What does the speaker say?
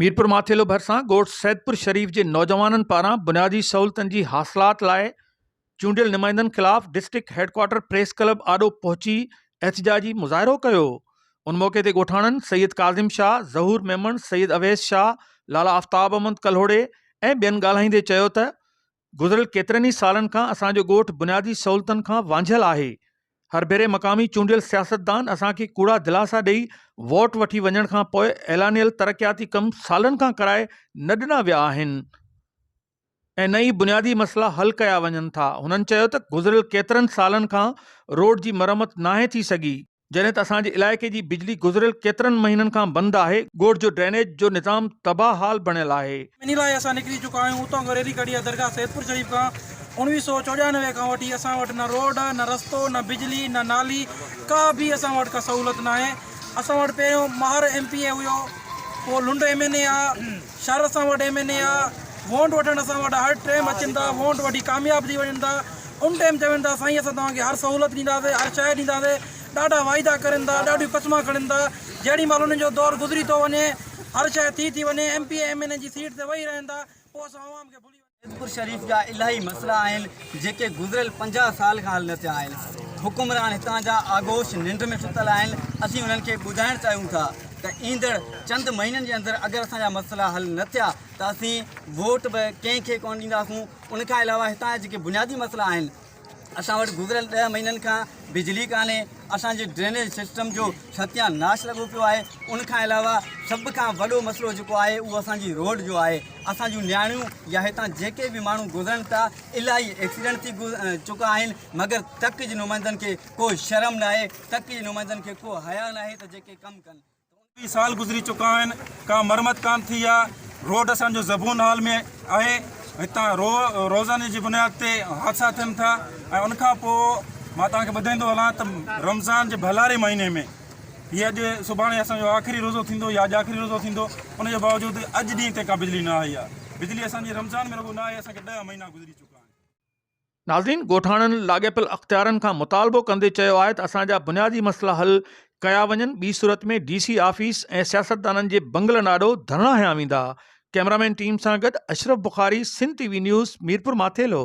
ميرپور ماٿيلو ڀرسان ڳوٺ سيدپور شريف جي نوجوانن پاران بنيادي سهولتن جي حاصلات لاء چونڊيل نمائندن خلاف ڊسٽرڪٽ هيڊڪوارٽر پريس ڪلب آڏو پهچي احتجاجي مظاهرو ڪيو ان موقعي تي ڳوٺاڻن سيد ڪاظم شاهه ظهور ميمڻ سيد اويس شاهه لالا آفتاب احمد ڪلهوڙي ۽ ٻين ڳالهائيندي چيو ته گذريل ڪيترن ئي سالن کان اسان جو ڳوٺ بنيادي سهولتن کان وانجهيل آهي، هر ڀيري مقامي چونڊيل سياستدان اسان کي ڪوڙا دلاسا ڏئي ووٽ وٺي وڃڻ کان پوء اعلانيل ترقياتي ڪم سالن کان ڪرائي نه ڏنا ويا آهن ۽ نه ئي بنيادي مسئلا حل ڪيا وڃن ٿا، هنن چيو ته گذريل ڪيترن سالن کان روڊ جي مرمت ناهي ٿي سگهي، جڏهن ته اسان جي علائقي جي بجلي گذريل ڪيترن مهينن کان بند آهي، ڳوٺ جو ڊرينيج جو نظام تباهه حال بڻيل آهي. انهي لاء اسان نڪري چڪا آهيون، اتان کان ريلي ڪڍي يا درگاهه سيدپور شريف کان اوڻويهه سؤ چوڏيانوي کان وٺي اسان وٽ نه روڊ، نه رستو، نه بجلي، نه نالي ڪا به اسان وٽ ڪا سهولت ناهي، اسان وٽ پهريون ماهر ايم پي اي هيو، پوء لنڊ ايم اين اي آ، شھر اسان وٽ ايم اين اي آ وونٽ وٺڻ اسان وٽ ھر ٽيم اچن ٿا وونٽ وٺي ڪامياب ٿي وڃن ٿا ان ٽيم چون ٿا سائين اسان توھان کي ھر سھولت ڏينداسين ھر شئي ڏينداسين ڏاڍا وعدا ڪرين ٿا ڏاڍيون قسما کڻين ٿا جھڙي مھل انھن جو دور گذري ٿو وڃي ھر شئي ٿي ٿي وڃي M P M N A جي سيٽ تي ويھي رھن ٿا پوء اسان عوام کي ڀلي سيدپور شريف جا الاهي مسئلا آهن جيڪي گذريل پنجاهه سال کان حل نه ٿيا آهن حڪمران هتان جا آغوش ننڊ ۾ ستل آهن اسين انهن کي ٻڌائڻ چاهيون ٿا ته ايندڙ چند مهينن جي اندر اگر اسان جا مسئلا حل نه ٿيا ته اسين ووٽ به ڪنهن کي ڪونه ڏينداسون ان کان علاوه هتان جا جيڪي بنيادي مسئلا آهن اسان وٽ گذريل ڏهه مهينن کان بجلي ڪانهي، اسان جي ڊرينيج سسٽم جو ستيا ناش لڳو پيو آهي، ان کان علاوه سڀ کان وڏو مسئلو جيڪو آهي اهو اسان جي روڊ جو آهي، اسان جون نياڻيون يا هتان جيڪي به ماڻهو گذرن ٿا الاهي ايڪسيڊنٽ ٿي چڪا آهن مگر تڪ جي نمائندن کي ڪو شرم ناهي، تڪ جي نمائندن کي ڪو حيا ناهي ته جيڪي ڪم ڪن. اڻويهه سال گذري چڪا آهن ڪا مرمت ڪانه ٿي آهي روڊ اسان جو زبون حال ۾ آهي هتان رو روزاني جي بنياد تي حادثا ٿين ٿا ۽ ان کان پوء مان توهان کي ٻڌائيندو هلان ته رمضان جي ڀلاري مهيني ۾ هي اڄ سڀاڻي اسان جو آخري روزو ٿيندو يا اڄ آخري روزو ٿيندو ان جي باوجود اڄ ڏينهن تي ڪا بجلي نه آئي آهي بجلي اسان جي رمضان ۾ رڳو نه آئي اسان کي ڏهه مهينا گذري چڪا آهن ناظرين ڳوٺاڻن لاڳيپيل اختيارن کان مطالبو ڪندي چيو آهي ته اسان جا بنيادي مسئلا حل ڪيا وڃن ٻي صورت ۾ ڊي سي آفيس ۽ سياستدانن جي بنگلن آڏو ڌرڻا هنيا ويندا ڪئميرامين ٽيم سان گڏ Ashraf Bukhari Sindh T V news Mirpur Mathelo.